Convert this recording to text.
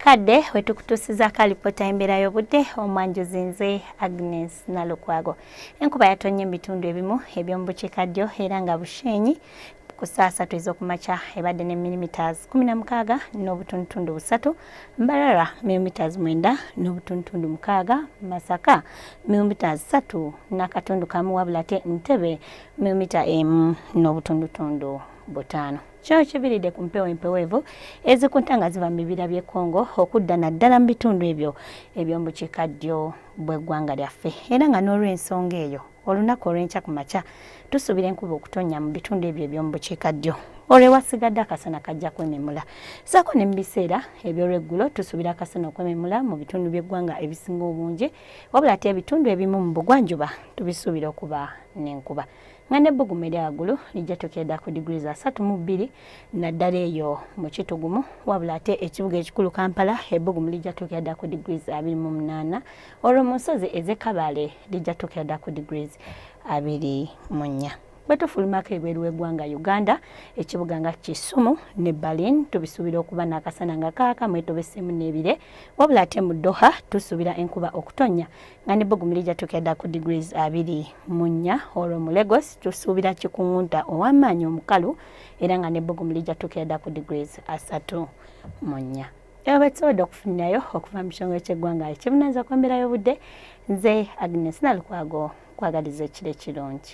kadde wetukutuusizaako alipoota y'embeera y'obudde omwanjuzi nze agnes nalukwago enkuba yatonnya ebitundu ebimu eby'omu bukiikaddyo era nga busheenyi ku saa satu ez'okumakya ebadde ne milimiters 16 n'obutundutundu busatu mbarara milimiters 9 n'obutundutundu mukaaga masaka milimiters 3 n'akatundu kamu wabula te ntebe milimita emu n'obutundutundu butaano Kino kiviridde ku mpewo empeweevu ezikunta nga ziva mu bibira by'e Congo okudda naddala mu bitundu ebyo eby'omu bukiika ddyo bw'eggwanga lyaffe era nga n'olw'ensonga eyo olunaku olw'enkya ku makya tusuubira enkuba okutonnya mu bitundu ebyo eby'omu bukiika ddyo olwo ewasigadde akasana kajja kwememula saako ne mu biseera eby'olweggulo tusuubira akasana okwememula mu bitundu by'eggwanga ebisinga obungi wabula ate ebitundu ebimu mu bugwanjuba tubisuubira okuba n'enkuba nga n'ebbugumu erya waggulu lijja tukeeda ku diguli za satu mu bbiri naddala eyo mu kitugumu wabula ate ekibuga ekikulu kampala ebbugumu lijja tukeeda ku diguli za abiri mu munaana olwo mu nsozi ez'e kabaale lijja tukeeda ku diguli abiri mu nnya bwe tufulumako ebweru w'eggwanga uganda ekibuga nga kisumu ne berlin tubisuubira okuba n'akasana nga kaaka mwetobeseemu n'ebire wabula ate mu doha tusuubira enkuba okutonnya nga ne bugumilija tukeda ku degrees abiri mu nnya olwo mu Lagos tusuubira kikuwunta ow'amaanyi omukalu era nga ne bugumilija tukeda ku degrees asatu mu nnya eba betusobodde okufunirayo okuva mu kitongole ky'eggwanga ekibunanza ku mbeera y'obudde nze Agnes Nalukwago kwagaliza ekiro ekirungi